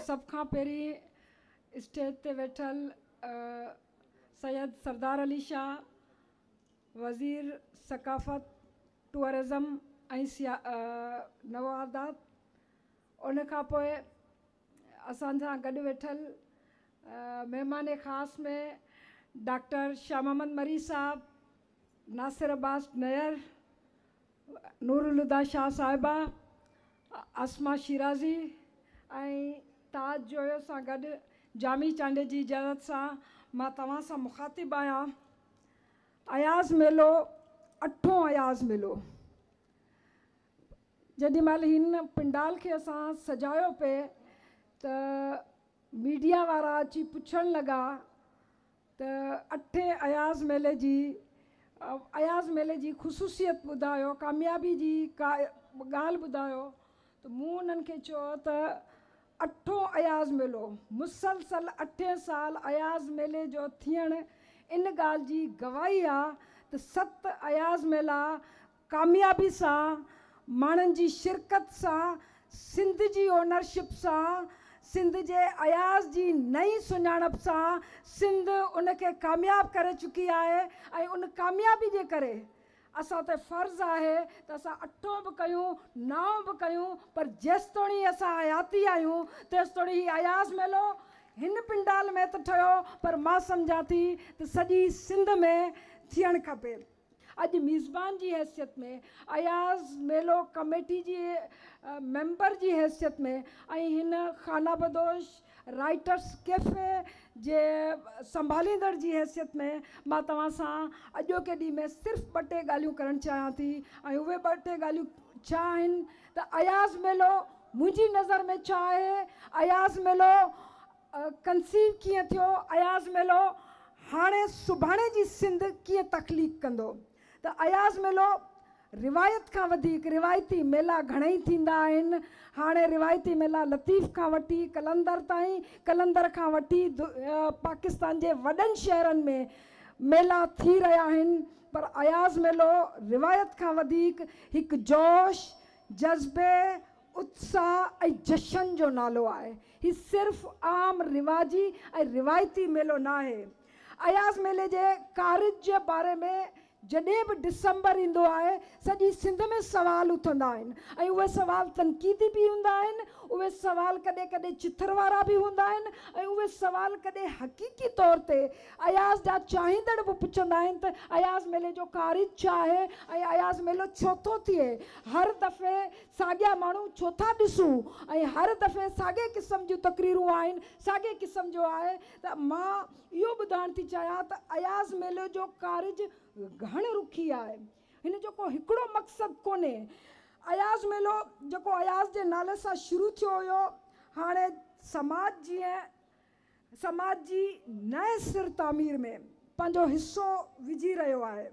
سڀ کان پهرين اسٽيج تي ويٺل سيد سردار علي شاهه وزير ثقافت ٽوئرزم ۽ نوادات ان کان پوء اسان سان گڏ ويٺل مهمان خاص ۾ ڊاڪٽر شاهه محمد مري صاحب ناصر عباس نير نورالهديٰ شاهه صاحبه، اسماء شيرازي ۽ تاج جويو سان گڏ جامي چانڊيي جي اجازت سان مان توهان سان مخاطب آهيان. اياز ميلو اٺون اياز ميلو جيڏي مهل هن پنڊال کي اسان سجايو پئي ته ميڊيا وارا اچي پڇڻ لڳا ته اٺين اياز ميلي جي اياز ميلي جي خصوصيت ٻڌايو ڪاميابي جي ڪا ڳالهه ٻڌايو ته مون انهن کي چيو ته اٺون اياز ميلو مسلسل اٺين سال اياز ميلي جو ٿيڻ ان ڳالهه جي گواهي آ ته ست اياز ميلا ڪاميابي سان ماڻهن جي شرڪت سان سنڌ جي اونرشپ سان سنڌ جي اياز جي نئين سڃاڻپ سان سنڌ ان کي ڪامياب ڪري چڪي آهي ۽ ان ڪاميابي جي ڪري اسان تي فرض آهي ته اسان اٺون به ڪيون نائون به ڪيون پر جيستوڻي اسان حياتي آهيون تيستوڻي هي اياز ميلو هن پنڊال ۾ ته ٺهيو پر مان سمجهان ٿي ته سڄي سنڌ ۾ ٿيڻ کپي. اڄ ميزبان جي حيثيت ۾ اياز ميلو ڪميٽي جي ميمبر جي حيثيت ۾ ۽ هن خانابدوش رائيٽرس ڪيفي جي سنڀاليندڙ جي حيثيت ۾ مان توهان سان اڄوڪي ڏينهن ۾ صرف ٻه ٽي ڳالهيون ڪرڻ چاهيان ٿي ۽ اهي ٻه ٽي ڳالهيون ڇا آهن ته اياز ميلو منهنجي نظر ۾ ڇا آهي اياز ميلو ڪنسيو ڪيئن ٿيو اياز ميلو هاڻي سڀاڻي جي سنڌ ڪيئن تخليق ڪندو ته اياز ميلو روايت کان وڌيڪ روايتي ميلا گهڻئي ٿيندا آهن هاڻي روايتي ميلا لطيف کان وٺي قلندر تائين قلندر کان وٺي پاڪستان جي وڏن شهرن ۾ ميلا ٿي رهيا آهن پر اياز ميلو روايت کان وڌيڪ هڪ جوش جذبي اتساهه ۽ جشن جو نالو آهي. هي صرف عام رواجي ۽ روايتي ميلو نه آهي. اياز ميلي جي ڪارج جي باري ۾ جڏهن به ڊسمبر ايندو آهي، سڄي سنڌ ۾ سوال اٿندا آهن ۽ اهي سوال تنقيدي به هوندا آهن، اهي سوال ڪڏهن ڪڏهن چٿر وارا به هوندا آهن ۽ اهي سوال ڪڏهن حقيقي طور تي اياز جا چاهيندڙ به پڇندا آهن ته اياز ميلي جو ڪارج ڇا آهي ۽ اياز ميلو ڇو ٿو ٿئي؟ هر دفعي ساڳيا ماڻهو ڇو ٿا ڏسون ۽ هر دفعي ساڳئي قسم جون تقريرون آهن ساڳئي قسم جو آهي ته مان اهو ٻڌائڻ ٿي چاهيان ته اياز ميلو جو ڪارج گهڻ رخي آهي هن جو ڪو هڪڙو مقصد ڪونهي اياز ميلو جيڪو اياز جي نالي سان شروع ٿيو هيو هاڻي سماج جيئن سماج جي نئين سر تعمير ۾ پنهنجو حصو وجهي رهيو آهي.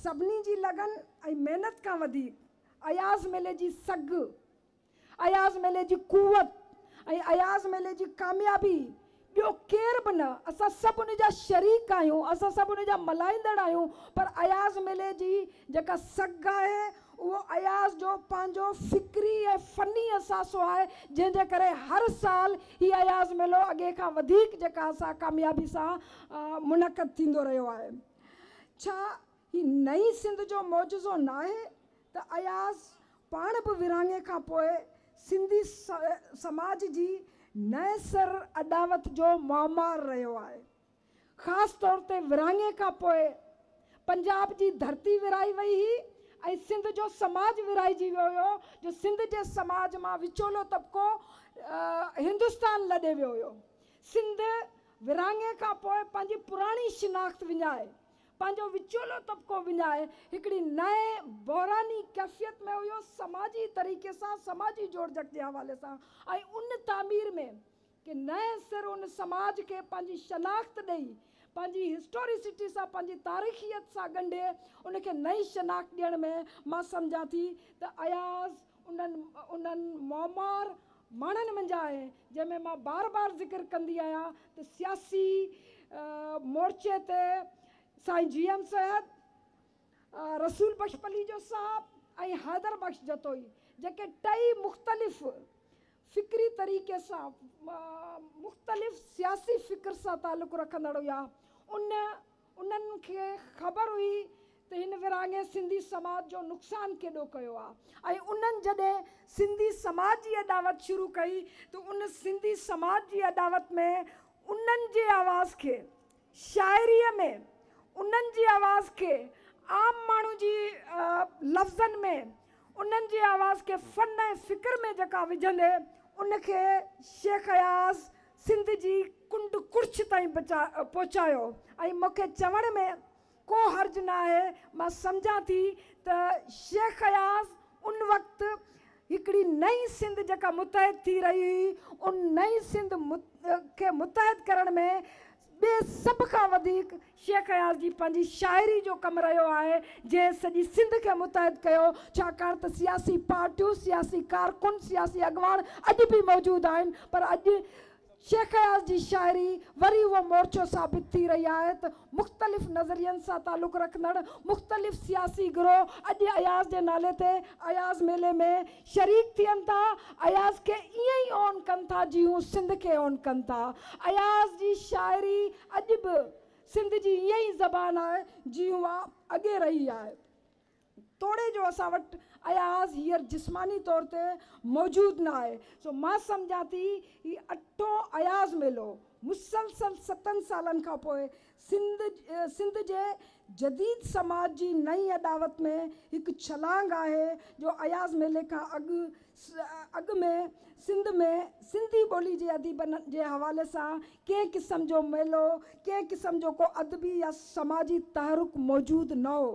سڀني جي لگن ۽ محنت کان وڌيڪ اياز ميلي جي سگهه، اياز ميلي جي قوت ۽ اياز ميلي جي ڪاميابي ٻيو ڪير به نه، اسان سڀ ان جا شريڪ آهيون، اسان سڀ ان جا ملهائيندڙ آهيون، پر اياز ميلي جي جيڪا سگهه آهي اهو اياز جو پنهنجو فڪري ۽ فني اثاثو آهي، جنهن جي ڪري هر سال هي اياز ميلو اڳي کان وڌيڪ جيڪا اسان ڪاميابي سان منعقد ٿيندو رهيو آهي. ڇا هي نئين سنڌ جو معجزو ناهي ته اياز پاڻ به ورهاڱي کان پوء سنڌي سماج جي نئين سر اڏاوت جو معمار رهيو آهي. خاص طور تي ورهاڱي کان پوء پنجاب جي ڌرتي ورهائي وئي هئي ۽ سنڌ جو سماج ورهائجي ويو هيو جو سنڌ جي سماج مان وچولو طبقو هندستان لڏي ويو هيو. سنڌ ورهاڱي کان پوء پنهنجي پراڻي شناخت وڃائي، پنهنجو وچولو طبقو وڃائي، هڪڙي نئين بحراني ڪيفيت ۾ هيو، سماجي طريقي سان، سماجي جوڙجڪ جي حوالي سان ۽ ان تعمير ۾ ڪنهن نئين سر ان سماج کي پنهنجي شناخت ڏئي، پنهنجي هسٽوريسٽي سان، پنهنجي تاريخيت سان ڳنڍي، ان کي نئين شناخت ڏيڻ ۾ مان سمجهان ٿي ته اياز، انهن انهن معمار ماڻهن منجهان آهي، جنهن ۾ مان بار بار ذڪر ڪندي آهيان ته سياسي مورچي تي سائين جي ايم سيد، رسول بخش پليجو صاحب ۽ حيدر بخش جتوئي جيڪي ٽئي مختلف فڪري طريقي سان مختلف سياسي فڪر سان تعلق رکندڙ هيا ان انهن کي خبر هئي ته هن ورهاڱي سنڌي سماج جو نقصان ڪيڏو ڪيو آهي ۽ انهن جڏهن سنڌي سماج جي اڏاوت شروع ڪئي ته ان سنڌي سماج جي اڏاوت ۾ انهن جي آواز کي شاعريء ۾ انهن جي آواز کي عام ماڻهو جي لفظن ۾ انهن جي آواز کي فن ۽ فڪر ۾ جيڪا وجهندي ان کي شيخ اياز سنڌ جي ڪنڊ ڪڙڇ تائين پهچايو ۽ مون کي چوڻ ۾ ڪو حرج نه آهي مان سمجهان ٿي ته شيخ اياز ان وقت هڪڙي نئين سنڌ جيڪا متحد ٿي رهي هئي ان نئين سنڌ کي متحد ڪرڻ ۾ ٻي سڀ کان وڌيڪ شيخ اياز جي پنهنجي شاعري جو ڪم رهيو آهي، جنهن سڄي سنڌ کي متحد ڪيو، ڇاڪاڻ ته سياسي پارٽيون، سياسي ڪارڪن، سياسي اڳواڻ اڄ به موجود آهن، پر اڄ شيخ اياز جي شاعري وري اهو مورچو ثابت ٿي رهي آهي ته مختلف نظرين سان تعلق رکندڙ مختلف سياسي گروهه اڄ اياز جي نالي تي اياز ميلي ۾ شريڪ ٿين ٿا اياز کي ائين ئي اون ڪن ٿا جي هو سنڌ کي اون ڪن ٿا اياز جي شاعري اڄ به سنڌ جي ائين ئي زبان آهي جي اها اڳي رهي آهي توڙي جو اسان وٽ اياز هيئر جسماني طور تي موجود نه آهي سو مان سمجهان ٿي هي اٺون اياز ميلو مسلسل ستن سالن کان پوء سنڌ جي جديد سماج جي نئين اڏاوت ۾ هڪ ڇلانگ آهي جو اياز ميلي کان اڳ اڳ ۾ سنڌ ۾ سنڌي ٻولي جي اديبن جي حوالي سان ڪنهن قسم جو ميلو ڪنهن قسم جو ڪو ادبي يا سماجي تحرڪ موجود نه هو.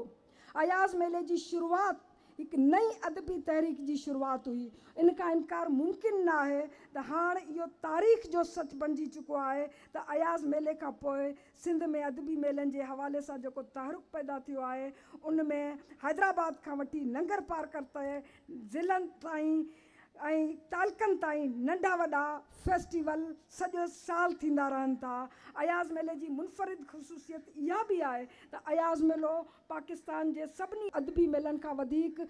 اياز ميلي جي شروعات هڪ نئين ادبي تحريڪ جي شروعات هئي. ان کان انڪار ممڪن نه آهي ته هاڻ اهو تاريخ جو سچ بڻجي چڪو آهي ته اياز ميلي کان پوء سنڌ ۾ ادبي ميلن جي حوالي سان جيڪو تحرڪ پيدا ٿيو آهي ان ۾ حيدرآباد کان وٺي ننگرپارڪر تي ضلعن تائين ۽ تعلقن تائين ننڍا وڏا فيسٽيول سڄو سال ٿيندا رهن ٿا. اياز ميلي جي منفرد خصوصيت اها به آهي ته اياز ميلو پاڪستان جي سڀني ادبي ميلن کان وڌيڪ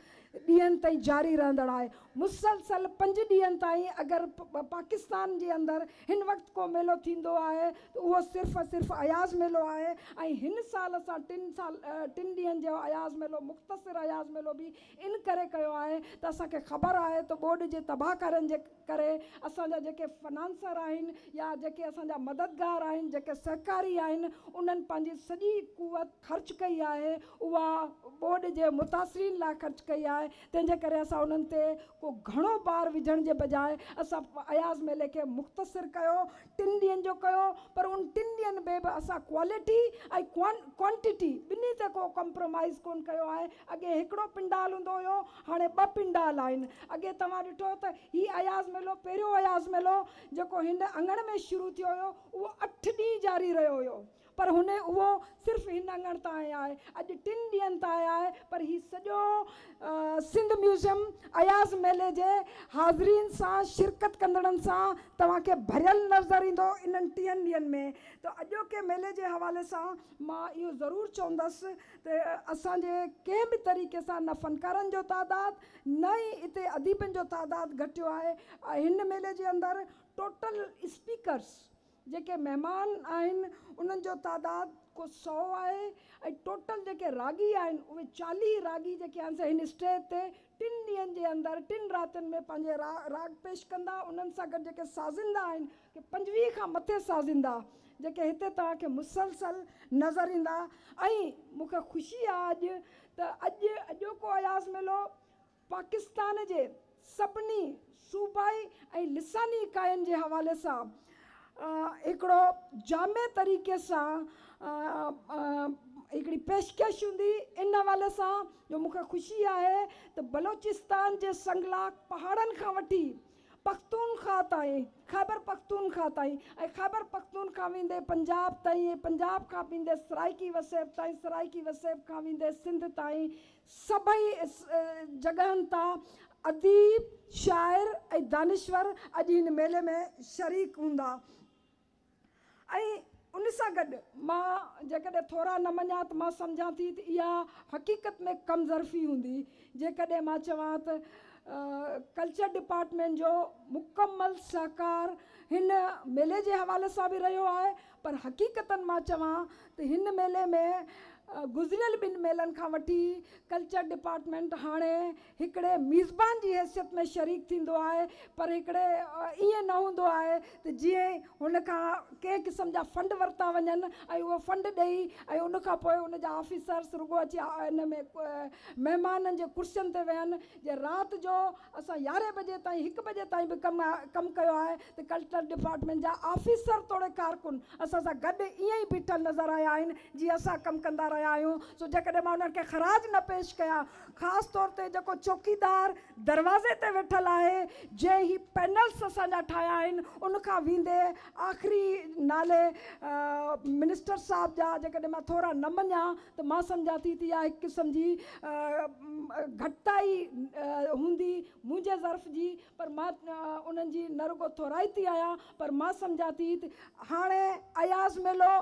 ڏينهن تائين جاري رهندڙ آهي. مسلسل پنج ڏينهن تائين اگر پاڪستان جي اندر هن وقت ڪو ميلو ٿيندو آهي ته اهو صرف ۽ صرف اياز ميلو آهي ۽ هن سال اسان ٽن سال ٽن ڏينهن جو اياز ميلو مختصر اياز ميلو به ان ڪري ڪيو آهي ته اسان کي خبر آهي ته ٻوڏ جي تباهه ڪارين جي ڪري اسان جا جيڪي فنانسر آهن يا جيڪي اسان جا مددگار آهن، جيڪي سهڪاري آهن انهن پنهنجي سڄي قوت خرچ ڪئي آهي اها ٻوڏ جي متاثرين لاء خرچ ڪئي آهي تنهن جي ڪري اسان انهن تي ڪو گهڻو بار وجهڻ جي بجاء اسان اياز ميلي کي مختصر ڪيو ٽن ڏينهن جو ڪيو پر ان ٽن ڏينهن ۾ به اسان ڪوالٽي ۽ ڪوانٽٽي ٻنهي تي ڪو ڪمپرومائيز ڪون ڪيو آهي اڳي هڪڙو پنڊال هوندو هيو هاڻي ٻه پنڊال آهن اڳي توهان ڏٺو ته هي اياز ميلو پهريون اياز ميلو جيڪو هن اڱڻ ۾ شروع ٿيو هيو اهو اٺ ڏينهن جاري رهيو هيو پر هن اهو صرف هن اڱڻ تائين آهي. اڄ ٽن ڏينهن تائين آهي پر هي سڄو سنڌ ميوزيم اياز ميلي جي حاضرين سان شرڪت ڪندڙن سان توهان کي ڀريل نظر ايندو انهن ٽيهن ڏينهن ۾ ته اڄوڪي ميلي جي حوالي سان مان اهو ضرور چوندس ته اسان جي ڪنهن به طريقي سان نه فنڪارن جو تعداد نه ئي اتي اديبن جو تعداد گهٽيو آهي هن ميلي جي اندر ٽوٽل اسپيڪرس جيڪي مهمان آهن انهن جو تعداد ڪو سؤ آهي ۽ ٽوٽل جيڪي راڳي آهن اهي چاليهه راڳي جيڪي آهن سي هن اسٽيج تي ٽن ڏينهن جي اندر ٽن راتين ۾ پنهنجي راڳ پيش ڪندا انهن سان گڏ جيڪي سازندا آهن ڪي پنجويهه کان مٿي سازندا جيڪي هتي توهان کي مسلسل نظر ايندا ۽ مون کي خوشي آهي اڄ ته اڄ اڄوڪو اياز ميلو پاڪستان جي سڀني صوبائي ۽ لساني اڪائين جي حوالي سان هڪڙو جامع طريقي سان هڪڙي پيشڪش هوندي ان حوالي سان جو مون کي خوشي آهي ته بلوچستان جي سنگلاخ پهاڙن کان وٺي پختونخواهه تائين خيبر پختونخواهه تائين ۽ خيبر پختونخواهه ويندي پنجاب تائين ۽ پنجاب کان ويندي سرائيڪي وسيب تائين سرائيڪي وسيب کان ويندي سنڌ تائين سڀئي جڳهن تان اديب، شاعر ۽ دانشور اڄ هن ميلي ۾ شريڪ هوندا ۽ ان سان گڏ مان جيڪڏهن ٿورا نه مڃان ته مان سمجهان ٿي ته اها حقيقت ۾ ڪم ظرفي هوندي جيڪڏهن مان چوان ته ڪلچر ڊپارٽمينٽ جو مڪمل سهڪار هن ميلي جي حوالي سان به رهيو آهي پر حقيقت مان چوان ته هن ميلي ۾ گذريل ٻن ميلن کان وٺي ڪلچر ڊپارٽمينٽ هاڻي هڪڙي ميزبان جي حيثيت ۾ شريڪ ٿيندو آهي پر هڪڙي ائين نه هوندو آهي ته جيئن ئي هن کان ڪنهن قسم جا فنڊ ورتا وڃن ۽ اهو فنڊ ڏئي ۽ ان کان پوء ان جا آفيسرس رڳو اچي ان ۾ مهمانن جي ڪرسين تي ويهن جي رات جو اسان يارهين بجي تائين هڪ بجي تائين به ڪم ڪم ڪيو آهي ته ڪلٽر ڊپارٽمينٽ جا آفيسر توڙي ڪارڪن اسان سان گڏ ائين ئي بيٺل نظر آيا آهن جيئن اسان ڪم ڪندا رهيا آهيون سو جيڪڏهن مان انهن کي خراج نه پيش ڪيان خاص طور تي جيڪو چوڪيدار دروازي تي ويٺل آهي جنهن هي پينلس اسان جا ٺاهيا آهن ان کان ويندي آخري نالي منسٽر صاحب جا جيڪڏهن مان ٿورا نه مڃان ته مان سمجهان ٿي ته اها هڪ قسم جي گهٽتائي هوندي منهنجي ظرف جي پر مان انهن جي نه رڳو ٿورائتي ٿي آهيان پر مان سمجهان ٿي ته هاڻي اياز ميلو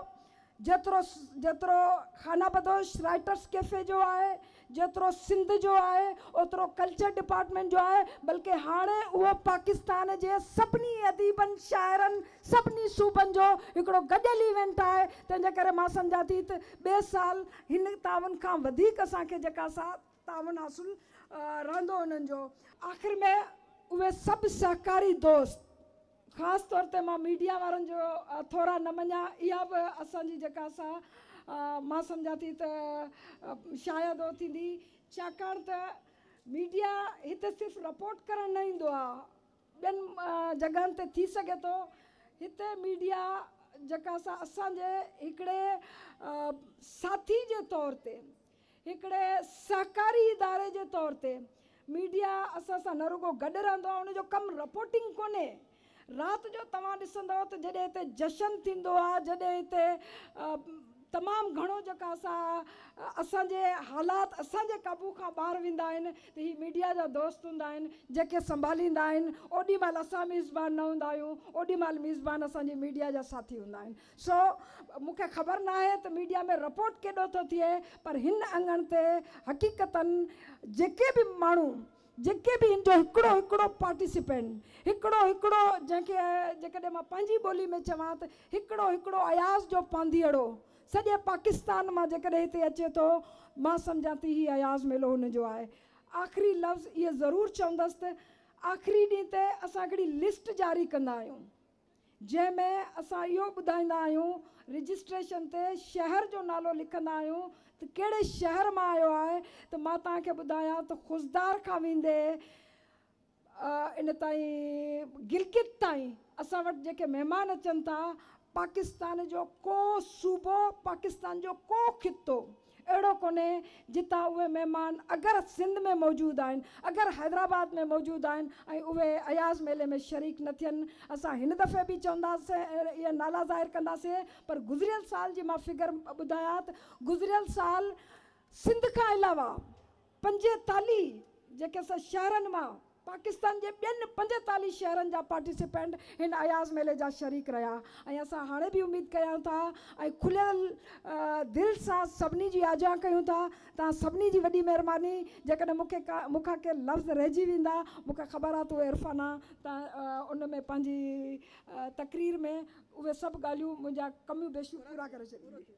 جيترو جيترو خانه بدوش رائيٽرس ڪيفي جو آهي، جيترو سنڌ جو آهي، اوترو ڪلچر ڊپارٽمينٽ جو آهي بلڪه هاڻي اهو پاڪستان جي سڀني اديبن، شاعرن، سڀني صوبن جو هڪڙو گڏيل ايونٽ آهي تنهن جي ڪري مان سمجهان ٿي ته ٻئي سال هن تعاون کان وڌيڪ اسان کي جيڪا ساٿ تعاون حاصل رهندو انهن جو. آخر ۾ اهي سڀ سهڪاري دوست خاص طور تي مان ميڊيا وارن جو ٿورا نه مڃيا اها به اسان جي جيڪا سا مان سمجهان ٿي ته شايد اهو ٿيندي ڇاڪاڻ ته ميڊيا هتي صرف رپورٽ ڪرڻ نه ايندو آهي ٻين جڳهن تي ٿي سگهي ٿو هتي ميڊيا جيڪا سا اسان جي هڪڙي ساٿي جي طور تي هڪڙي سهڪاري اداري جي طور تي ميڊيا اسان سان نه رڳو گڏ رهندو آهي ان جو ڪم رپورٽنگ ڪونهي رات جو توهان ڏسندؤ ته جڏهن هتي جشن ٿيندو آهي جڏهن هتي تمام گهڻو جيڪا سا اسان جي حالات اسان جي قابو کان ٻاهر ويندا آهن ته هي ميڊيا جا دوست هوندا آهن جيڪي سنڀاليندا آهن اوڏي مهل اسان ميزبان نه هوندا آهيون اوڏي مهل ميزبان اسان جي ميڊيا جا ساٿي هوندا آهن سو مون کي خبر ناهي ته ميڊيا ۾ رپورٽ ڪيڏو ٿو ٿئي پر هن اڱڻ تي حقيقتا جيڪي به ماڻهو جيڪي به هن جو هڪڙو هڪڙو پارٽيسپينٽ هڪڙو هڪڙو جنهن کي جيڪڏهن مان پنهنجي ٻولي ۾ چوان ته هڪڙو هڪڙو اياز جو پانڌيئڙو سڄي پاڪستان مان جيڪڏهن هتي اچي ٿو مان سمجهان ٿي هي اياز ميلو هن جو آهي آخري لفظ اهي ضرور چوندس ته آخري ڏينهن تي اسان هڪڙي لسٽ جاري ڪندا آهيون. جنهن ۾ اسان اهو ٻڌائيندا آهيون رجسٽريشن تي شهر جو نالو لکندا آهيون ته ڪهڙي شهر مان آيو آهي ته مان توهان کي ٻڌايان ته خضدار کان ويندي ان تائين گلگت تائين اسان وٽ جيڪي مهمان اچن ٿا پاڪستان جو ڪو صوبو پاڪستان جو ڪو خطو اهڙو ڪونهي جتان اهي مهمان اگر سنڌ ۾ موجود آهن اگر حيدرآباد ۾ موجود آهن ۽ اهي اياز ميلي ۾ شريڪ نه ٿين اسان هن دفعي به چونداسين اهي نالا ظاهر ڪنداسين پر گذريل سال جي مان فگر ٻڌايات گذريل سال سنڌ کان علاوه پنجيتاليھ جيڪي سھ شھرن مان پاڪستان جي ٻين پنجيتاليھ شھرن جا پارٽيسپينٽ ھن اياز ميلي جا شريڪ رھيا ۽ اسان ھاڻي به اميد ڪريان ٿا ۽ کليل دل سان سڀني جي آجيان ڪيون ٿا توھان سڀني جي وڏي مھرباني جيڪڏھن مون کي مون کان ڪي لفظ رھجي ويندا مون کي خبر آھي ته عرفانه تان ان ۾ پنھنجي تقرير ۾ اھي سڀ ڳالھيون منھنجا ڪميون بيشيون پورا ڪري ڇڏيندي.